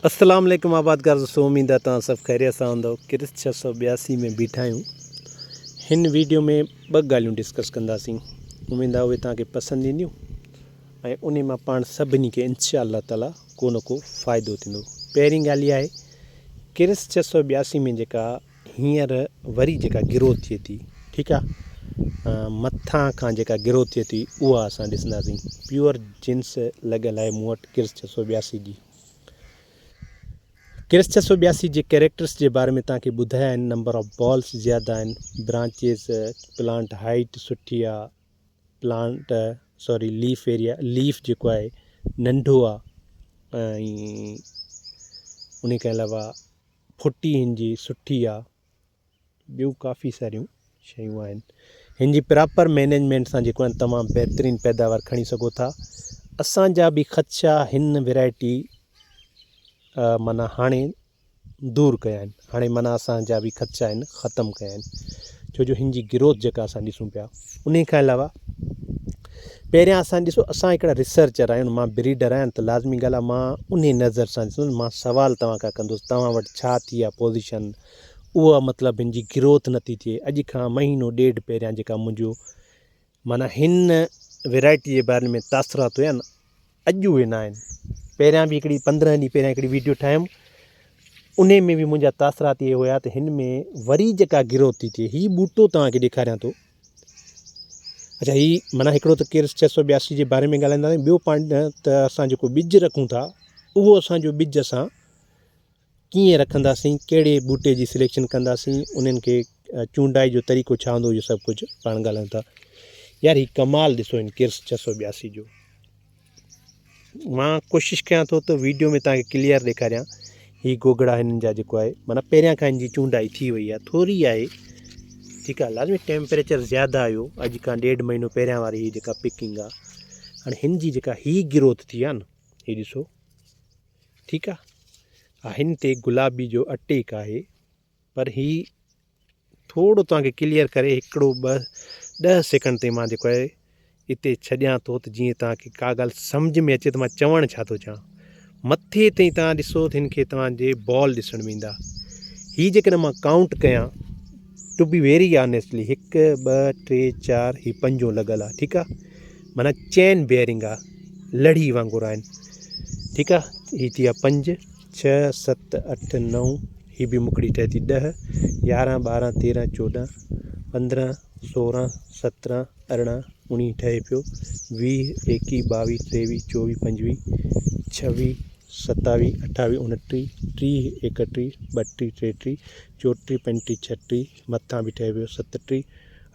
السلام عليڪم آبادگار دوستو اميد آ توهان سڀ خيريت سان هوندو ڪرس 682 ۾ بيٺا آهيون هن ويڊيو ۾ ٻه ڳالهيون ڊسڪس ڪنداسين اميد آ اهي توهان کي پسند اينديون ۽ انهي مان پاڻ سڀني کي انشاء الله تعالي ڪو نه ڪو فائدو ٿيندو پهرين ڳالهه اها آهي ڪرس 682 ۾ جيڪا هينئر وري جيڪا گروٿ ٿئي ٿي ٺيڪ آ مٿان کان جيڪا گروٿ ٿئي ٿي اها اسان ڏسنداسين پيور جنس لڳل آهي مون وٽ ڪرس ڇهه سؤ ٻياسي جي ڪرس ڇهه سؤ ٻياسي جي ڪيريڪٽرس جي باري ۾ تان کي ٻڌايا آهن نمبر آف بالس زياده آهن برانچيز پلانٽ هائيٽ سٺي آ plant sorry leaf area leaf جيڪو آهي ننڍو آ ۽ ان کان علاوه ڦٽي هن جي سٺي آ ٻيون ڪافي ساريون شيون آهن هن جي پراپر مينيجمينٽ سان جيڪو آهن تمام بهترين پيداوار کڻي سگهو ٿا اسان جا به خدشا هن ويرائٽي معنی هاڻي دور ڪيا آهن هاڻي معنی اسان جا به خدشا آهن ختم ڪيا آهن ڇو جو هن جي گروٿ جيڪا اسان ڏسون پيا انهي کان علاوه پهريان اسان ڏسو اسان هڪڙا ريسرچر آهيون مان بريڊر آهيان ته لازمي ڳالهه آهي مان انهي نظر سان ڏسندس مان سوال توهان کان ڪندس توهان وٽ ڇا ٿي آهي پوزيشن اها مطلب هن جي گروٿ نه ٿي ٿئي اڄ کان مهينو ڏيڍ پهريان جيڪا منهنجو معنيٰ هن ويرائٽي جي باري ۾ تاثرات هيا نه اڄ اهي ناهن. پهريان به هڪڙي پندرهن ڏينهن پهريان هڪڙي ويڊيو ٺاهيم انهي ۾ به منهنجا تاثرات اهي هيا ته هن ۾ وري جيڪا گروٿ ٿي ٿئي هي ٻوٽو توهان کي ڏيکاريان ٿو اڇا هي معنيٰ هڪڙو ته ڪير ڇهه سؤ ٻياسي جي باري ۾ ڳالهائيندا آهيون ٻيو پوائنٽ ته اسان جيڪو ٻج رکون ٿا اهو اسان جو ٻج اسان ڪيئن رکنداسين، ڪهڙي ٻوٽي جي سليڪشن ڪنداسين، انهن کي چونڊائي جو طريقو ڇا هوندو اهو سڀ ڪجهه پاڻ ڳالهايون ٿا. يار هي ڪمال ڏسو هن ڪيرس ڇهه سؤ ٻياسي جو مان ڪوشش ڪيان ٿو ته ويڊيو ۾ تان کي ڪليئر ڏيکاريان هي گوگڙا هنن جا جيڪو آهي معنيٰ پهريان کان هن جي چونڊائي ٿي وئي آهي ٿوري آهي ٺيڪ آهي لازمي ٽيمپريچر زياده آيو اڄ کان ڏيڍ مهينو پهريان واري هي جيڪا پڪنگ آهي هاڻي هن جي جيڪا هي گروٿ ٿي آهي نه هي ڏسو ٺيڪ آ ها هن تي گلابي جو اٽيڪ آهي پر هي ٿورو توهان کي ڪليئر ڪري هڪڙو ٻه ڏهه سيڪنڊ تي مان جيڪو آهي اتي ڇڏيان ٿو ته جيئن توهان کي ڪا ڳالهه سمجھ ۾ اچي ته مان چوڻ ڇا ٿو چاهيان مٿي تي توهان ڏسو ته هن کي توهان جي بال ڏسڻ ۾ ايندا هي جيڪڏهن مان ڪائونٽ ڪيان ٽو بي ويري آنيسٽلي هڪ ٻه ٽي چار هي پنجون لڳل آ ٺيڪ آ معنيٰ چين بيرنگ آ لڙهي وانگر آهن ٺيڪ آ هي ٿي ويا پنج ڇهه ست اٺ نو هي به مکڙي ٺهي ٿي ڏهه يارهن ٻارهن تيرهن چوڏهن پندرهن سورهن سترهن ارڙهن اڻيهه ٺهي پيو ويهه ايڪيهه ٻاويهه ٽيويهه چوويهه پنجويهه ڇويهه ستاويهه اٺاويهه اڻٽيهه ٽيهه ايڪٽيهه ٻٽيهه ٽيٽيهه چوٽي پنجٽي ڇهٽي مٿان به ٺهي ويو ستٽي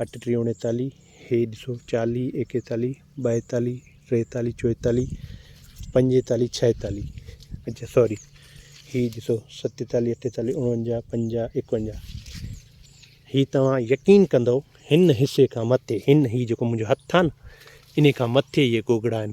اٺٽي اوڻيتاليهه هي ڏسو چاليهه ايڪيتاليهه ٻائيتاليهه ٽيتاليهه چوئيتاليهه پنجيتاليهه ڇهيتاليهه اچا سوري هي ڏسو ستيتاليهه اٺيتاليهه اڻونجاهه پنجاهه ايڪونجاهه هي توهان يقين ڪندو هن حصي کان مٿي هن هي جيڪو منهنجو هٿ آهي نه ان کان مٿي اهي گوگڙا آهن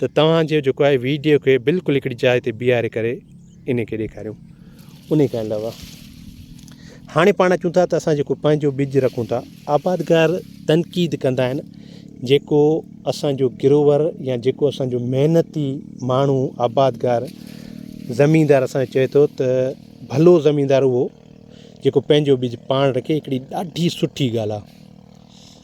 ته توهان جي جيڪو آهي ويڊيو کي بلڪل هڪڙي جاء تي بيهاري ڪري انهي کي ڏيکاريون انهي کان علاوه هاڻي پاڻ اچون ٿا ته اسان جيڪو پنهنجو ٻج رکون ٿا آبادگار تنقيد ڪندا آهن جيڪو اسانجو گروور يا جيڪو اسانجو محنتي ماڻهو آبادگار زميندار اسان کي چئي ٿو ته ڀلو زميندار اهو جيڪو پنهنجو ٻج پاڻ رکي هڪڙي ڏاڍي سٺي ڳالهه آهي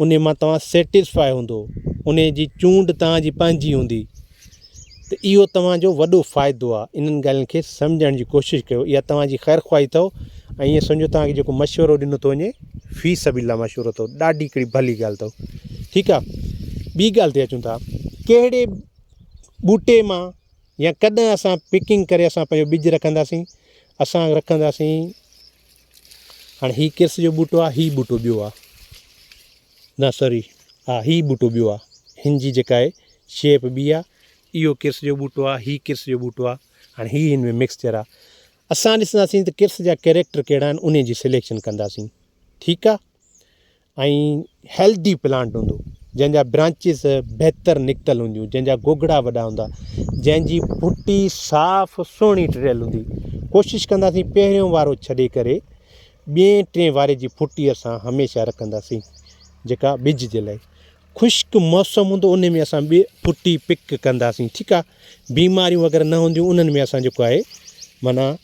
انهي مان توهان سيٽسفاء هوندو، انهي جي چونڊ توهان جي پنهنجي هوندي ته اهو توهان جو وڏو فائدو آهي انهن ڳالهين کي سمجهڻ جي ڪوشش ڪيو اها توهان جي خير خواهي اٿو ۽ ائين سمجهو توهان کي جيڪو مشورو ڏنو ٿو وڃي في سبيل الله مشورو اٿو ڏاڍي هڪڙي ڀلي ڳالهه اٿو ٺيڪ آهي ٻي ڳالهه تي اچون ٿا ڪهڙي ٻوٽي مان يا ڪڏهن اسان پڪنگ ڪري اسان پنهنجو ٻج رکنداسين اسان رکنداسين هاڻي هي ڪرس جو ٻوٽو آ هي ٻوٽو ٻيو آ نه سوري ها هي ٻوٽو ٻيو آ هن جي جيڪا آهي شيپ ٻي آ اهو ڪرس جو ٻوٽو آ هي ڪرس جو ٻوٽو آ هاڻي هي هن ۾ مڪسچر آ اسان ڏسنداسين ته ڪرس جا ڪيريڪٽر ڪهڙا آهن انهي جي سليڪشن ڪنداسين ٺيڪ آ ۽ هيلٿي پلانٽ هوندو جنهن جا برانچز بهتر نڪتل هونديون جنهن جا گوگڙا وڏا هوندا جنهن جي بوٽي صاف سهڻي ٽڙيل هوندي ڪوشش ڪنداسين پهريون وارو ڇڏي ڪري ٻئي ٽئين واري جي بوٽي اسان هميشه رکنداسين جيڪا ٻج جي لاء خشڪ موسم هوندو ان ۾ اسان ٻي بوٽي پڪ ڪنداسين ٺيڪ آهي بيماريون وغيره نه هونديون انهن ۾ اسان جيڪو آهي معنيٰ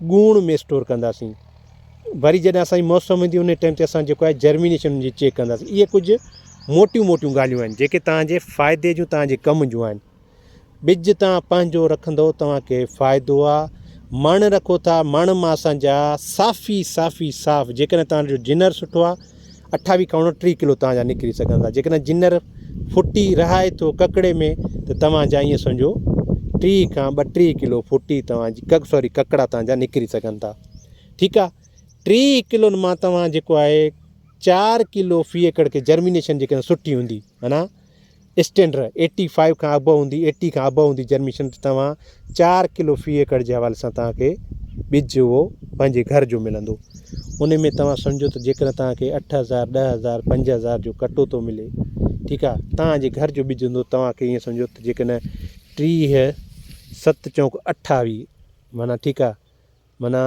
ڳوڻ ۾ اسٽور ڪنداسين وري جڏهن اسان جي موسم ايندي ان ٽائيم تي اسان جيڪو آهي جرمينيشن ان جي چيڪ ڪنداسين اهي ڪجهه موٽيون موٽيون ڳالهيون آهن جيڪي تهنجي فائدي جون تهنجي ڪم جون آهن ٻج تهان پنهنجو رکندو تهنکي فائدو آهي مڻ رکو ٿا مڻ مان اسان جا صافي صافي صاف جيڪڏهن تهنجو جنر سٺو آهي اٺاوي کان اڻٽيهه ڪلو توهان جا نڪري سگهن ٿا جيڪڏهن جنر ڦٽي رهائي ٿو ڪڪڙي ۾ ته توهان جا ائين سمجهو ٽيهه کان ٻٽيهه ڪلو ڦٽي توهان جي ڪڪ سوري ڪڪڙا توهان جا نڪري سگهن ٿا ٺيڪ آ ٽيهه ڪلون مان توهان جيڪو آهي چار ڪلو في ايڪڙ کي جرمينيشن جيڪڏهن سٺي هوندي معنيٰ اسٽينڊر ايٽي فائيو کان ابو هوندي ايٽي کان ابو هوندي جرميشن ته توهان چار ڪلو في ايڪڙ جي حوالي سان توهان کي ٻج اهو پنهنجي گهر جو ملندو ان ۾ توهان سمجهو ته جيڪڏهن توهان کي اٺ هزار ڏهه هزار پنج هزار جو ڪٽو ٿو ملي ٺيڪ آ توهان جي گهر جو ٻج هوندو توهان کي ائين سمجهو ته جيڪڏهن ٽيهه ست چونڪ اٺاويهه معنيٰ ٺيڪ آ معنيٰ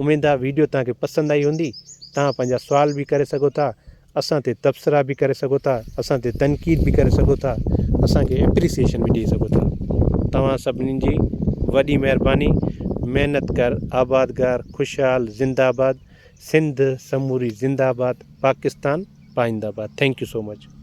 اميد آ ويڊيو توهان کي پسند آئي هوندي توهان پنهنجا سوال به ڪري سگهو ٿا اسان تي تبصرا به ڪري سگهو ٿا اسان تي تنقيد به ڪري سگهو ٿا اسان کي اپريسيشن به ڏئي سگهو ٿا توهان سڀني جي وڏي مهرباني محنت ڪر آبادگار خوشحال زنده آباد سنڌ سموري زنده آباد پاڪستان پائنده آباد ٿينڪ يو سو مچ.